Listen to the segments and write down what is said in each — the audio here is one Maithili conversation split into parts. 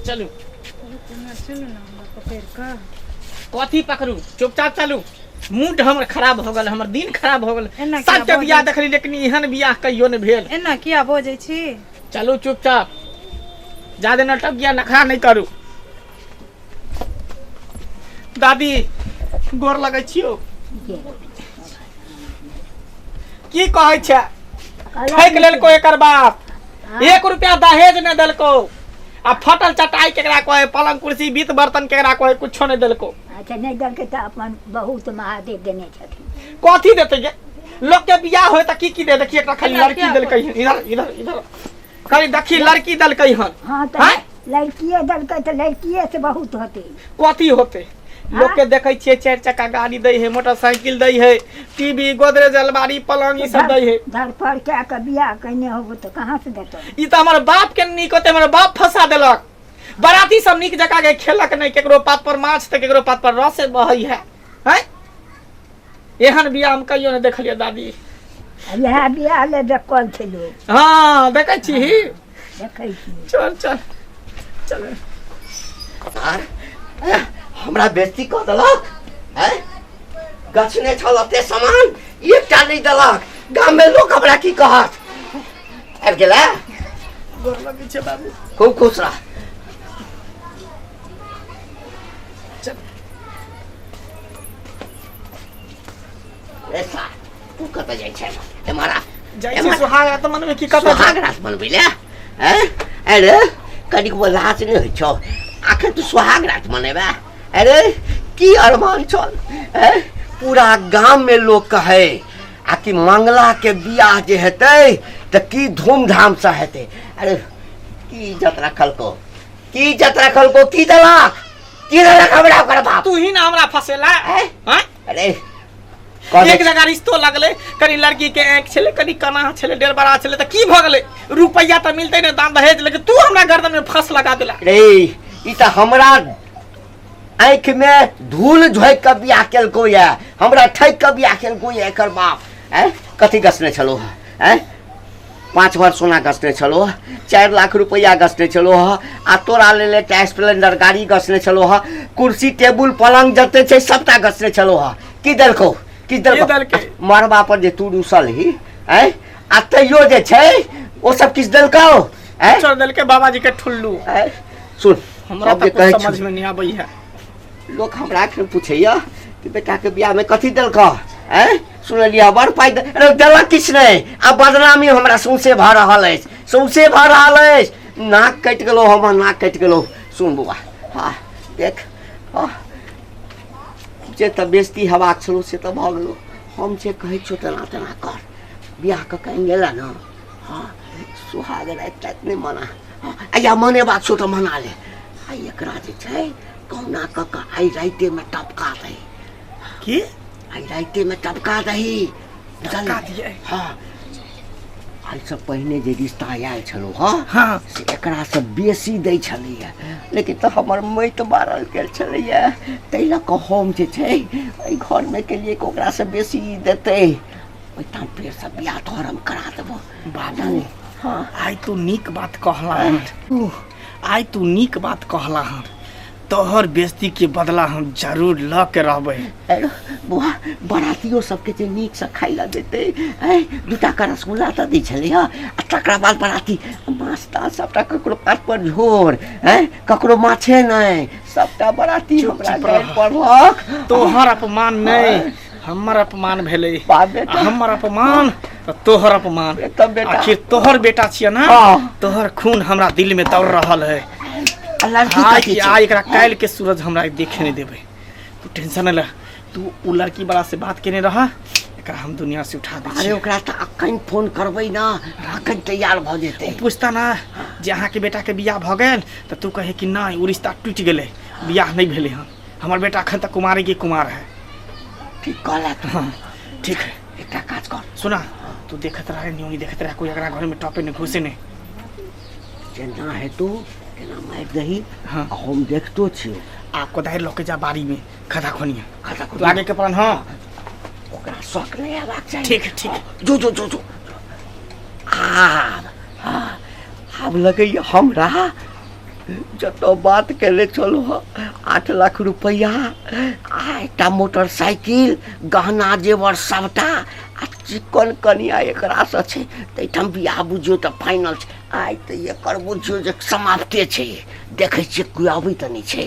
चलू कथी पकड़ू चुपचाप चलू मूड हमर खराब हो गेल हमर दिन खराब हो गेल एना किया सबके बियाह बजै- देखली लेकिन एहन बियाह कहियो नहि भेल एना किया बजै छी चलू चुपचाप ज्यादा नाटक या नखरा नहीं करू दादी गोर लगै छियो की कहै छै ठैक लेलको एकर बाप एक रुपया दहेज नहि देलको आ फटल चटाई केकरा कहे पलंग कुर्सी बीत बर्तन केकरा कहे कुछो नहि देलको अच्छा नहि देलकै तऽ अपन बहुत महादेव देने छथिन कथी देते गे लोग के बियाह होय त की की दे देखिए एकटा खाली लड़की देलकै इधर इधर इधर कहीं देखी लड़की दलकई हन हाँ तो हैं? लड़किए दलकै तो लड़किए से बहुत होते कथी होते लोग के देखे छिए चार चक्का गाड़ी दे है मोटरसाइकिल दे है टीवी गोदरेज अलमारी पलंग ई सब दे है धर पर क्या के बियाह कहने होबो तो कहाँ से देतो ई तो हमारे बाप के नीक होते हमारे बाप फंसा देलक बराती सब नीक जका के खेलक नहीं केकरो पात पर माछ तो केकरो पात पर रस बहै है है एहन बियाह हम कहियो नहि देखलियै दादी इएह बियाह ले देखल छै लोग हँ देखै छी देखै छी चल चल चल आर ए, हमरा बेइज्जती कऽ देलक है गछ नहि छल एते सामान एकटा नहि देलक गाममे लोक हमरा की कहत आबि गेलै गोर लगै छै बाबू खूब खुश रह चल ऐसा तू कत जाइ छै ए मारा जाइ छी सुहाग रात मनबै की कत सुहाग रात मनबै ले हैं अरे कनिक वो लाज नै होइ छौ आखिर तू सुहाग रात मनेबा अरे की अरमान छल हैं पूरा गाम में लोग कहे आ कि मंगला के बियाह जे हेतै तऽ की धूमधाम से हेतै अरे की इज्जत रखल को की इज्जत रखल को की देलक की देलक हमरा ओकर बाप तू ही ना हमरा फसेला हैं? हैं? अरे कह एक दे- जगह रिश्तो लगले कनी लड़की के आँख छले कनी कना छले डेढ़ बड़ा छले तो की भ गेले रुपया तो मिलते ने दाम दहेज लेकिन तू हमरा गर्दन में फंस लगा देला रे ई त हमरा आँख में धूल झोंक के बियाह केलको ये हमरा ठैक के बियाह केलको ये एकर बाप हैं कथी गसने छलो हैं पाँच भर सोना गसने छलो ह चारि लाख रुपैआ गसने छलो ह आ तोरा लेल एकटा स्प्लेंडर गाड़ी गसने छलो ह कुर्सी टेबुल पलंग जते छै सबटा गसने छलो ह की देलकौ की देलकौ देलकै? आ मरबा पर जे तू रुसल ही ऐ आ तैयो जे छै ओ सब किछु देलकौ ऐ छोड़ देलके बाबाजी के ठुल्लू ऐ सुन हमरा सब जे तक कहै कुछ छौ समझ में नहीं आबै है लोक हमरा एखन पूछैया कि बेटाके बियाहमे कथी देलकौ ऐ सुनलियै बड़ पाइ दे- अरे देलक किछु नहि आ बदनामी हमरा सौंसे भऽ रहल अछि सौंसे भऽ रहल अछि नाक कटि गेलहुँ हमर नाक कटि गेलहुँ सुन बौआ हँ देख हँ जे तऽ बेजती हेबाक छलौ से तऽ भऽ गेलौ हम जे कहै छियौ तेना तेना कर बियाह कऽ के आनि गेला ने हँ सुहाग राति ताति नहि मना हँ, आ या मने बात छौ तऽ मना ले आ एकरा जे छै कहुना कऽ कऽ आइ राइतेमे टपका दे की आइ राइते में टपका दही टपका दिए हाँ आइ से पहिने जे रिश्ता आयल छलो हाँ हाँ से एकरा से बेसी दै छलैया लेकिन तो हमर मई तो मारल गेल छलैया ताहि लऽ कऽ हम जे छै एहि घर में केलिए कि ओकरा से बेसी ई देतै ओहि ठाम फेर से बियाह तोहर हम करा देबो बाबू हाँ आइ तू नीक बात कहला हन आइ तू नीक बात कहला हन तोहर बेस्ती के बदला हम जरूर ल के रहबे हेलो बुआ बरातियो सबके जे नीक से खाइ ला देते ऐ दूटा का रसगुल्ला तऽ दै छलै हँ आ तकरा बाद बराती माछ ताछ सबटा ककरो पात पर झोर ऐ ककरो माछे नहि सबटा बराती हमरा चुप गाड़ि रह। पड़लक तोहर अपमान नहीं हमर अपमान भेलै बाप बेटा। हमर अपमान आ तोहर अपमान बेटा, बेटा। आखिर तोहर बेटा छियै ना हाँ। तोहर खून हमरा दिल में दौड़ रहल है अल्लाह की आज कथी छै? आज एकरा काल्हि के सूरज हमरा देखे नहीं देबै तू टेंशन नहीं ले तू उ लड़की वाला से बात केने रह एकरा हम दुनिया से उठा दै अरे छी ओकरा तऽ अखन फोन करबै ना अखन तैयार भऽ जेतै पूछता ना जे अहाँके बेटाके बियाह भऽ गेल तऽ तू कहे कि नहि ओ रिश्ता टूटि गेलै बियाह नहि भेलै हँ हमर बेटा अखन तक कुमारे की कुमार है ठीक कहला तू हाँ ठीक है एकटा काज कर सुना तू देखत रहे न्यू नहीं देखत रहे कोई अगरा घर में टॉपे नहीं घुसे नहीं जेना हेतौ तेना मारि दही हाँ। आ हम देखतो छियौ आ कोदारि लऽ के जा बाड़ी में खदा खोनिया खदा तू आगे के प्लान हाँ ओकरा शौक नहि हेबाक चाही ठीक है ठीक है जो जो जो जो आब आब लगैया हमरा जतऽ बात केले छलहुँ हँ आठ लाख रुपैआ आ एकटा मोटरसाइकिल गहना जेवर सभटा आ चिक्कन कनिया एकरासँ छै ताहिठाम बियाह बुझियौ तऽ फाइनल छै आइ तऽ एकर बुझियौ जे समाप्ते छै देखै छियै कोइ अबै तऽ नहि छै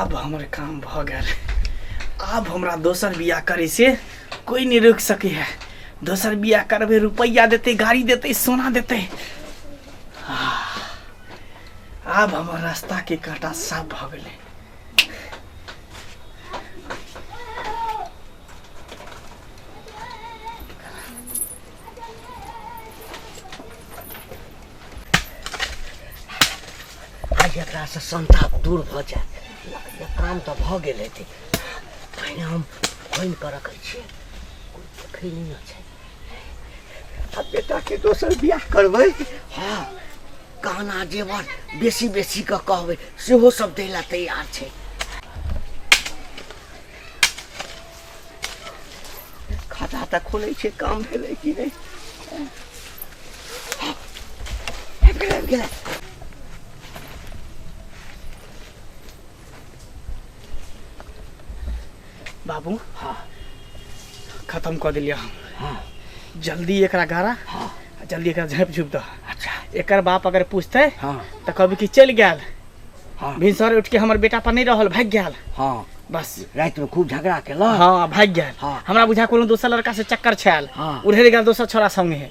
आब हमर काम भऽ गेल आब हमरा दोसर बियाह करे से कोई नहीं रोक सके है दोसर बियाह करबे रुपया देते गाड़ी देते सोना देते आह, आब हमर रास्ता के कांटा साफ भऽ गेलै आइ एकरासँ संताप दूर भऽ जायत काम तऽ भऽ गेल हेतै पहिने हम खोनि कऽ रखै छियै कोइ देखै नहि छै आ बेटाके दोसर बियाह करबै हँ गहना जेवर बेसी बेसी कऽ कहबै सेहो सब दै लए तैयार छै खाता तऽ खोलै छै काम भेलै कि नहि आबि गेलै, आबि गेलै। बाबू हाँ खत्म कर दिलिया हम हाँ जल्दी एकरा गारा हाँ आ जल्दी एकरा झप झुप दह अच्छा एकर बाप अगर पूछते हाँ तो कभी कि चल गया हाँ भिनसर उठ के हमर बेटा पर नहीं रहल भाग गया हाँ बस रात में खूब झगड़ा केलक हाँ भाग गया हाँ। हमरा बुझा कोनो दोसर लड़का से चक्कर छायल हाँ। उड़े गया दोसर छोरा संगे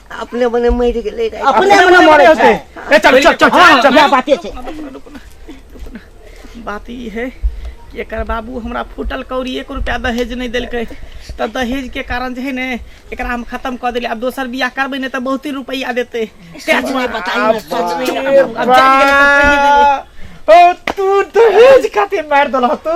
अपने मने मर गेले रहे अपने मने मरे होते ए चल चल चल हाँ, चल बाते छे बात ई है कि एकर बाबू हमरा फूटल कौड़ी एक रुपया दहेज नहीं देलकै तऽ दहेज के कारण जे है ने एकरा हम खत्म कऽ देली आब दोसर बियाह करबै ने तऽ बहुत ही रुपया देतै सच नहीं बताई सच नहीं अब जान गेलै तऽ कहि देबै। ओ तू दहेज खातिर मार दल तू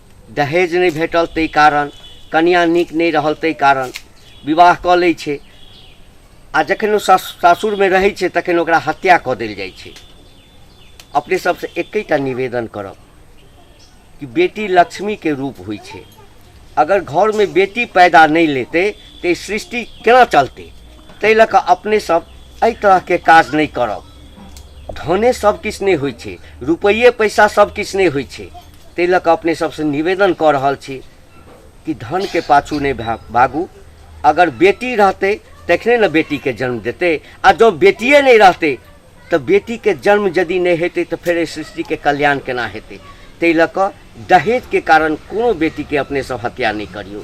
दहेज नहि भेटल ताहि कारण कनिया नीक नहि रहल ताहि कारण विवाह कऽ लै छै आ जखन ओ सासुरमे रहै छै तखन ओकरा हत्या कऽ देल जाइ छै अपने सबसँ एकैटा निवेदन करब कि बेटी लक्ष्मीके रूप होइ छै अगर घरमे बेटी पैदा नहि लेतै तऽ सृष्टि केना चलतै ताहि लऽ कऽ अपने सब एहि तरहके काज नहि करब धने सब किछु नहि होइ छै रुपैए पैसा सब किछु नहि होइ छै ताहि लऽ कऽ अपने सबसँ निवेदन कऽ रहल छी कि धनके पाछू नहि भा भागू अगर बेटी रहतै तखने ने बेटीके जन्म देतै आ जँ बेटिए नहि रहतै तऽ बेटीके जन्म यदि नहि हेतै तऽ फेर एहि सृष्टिके कल्याण केना हेतै ताहि लऽ कऽ दहेजके कारण कोनो बेटीके अपने सब हत्या नहि करियौ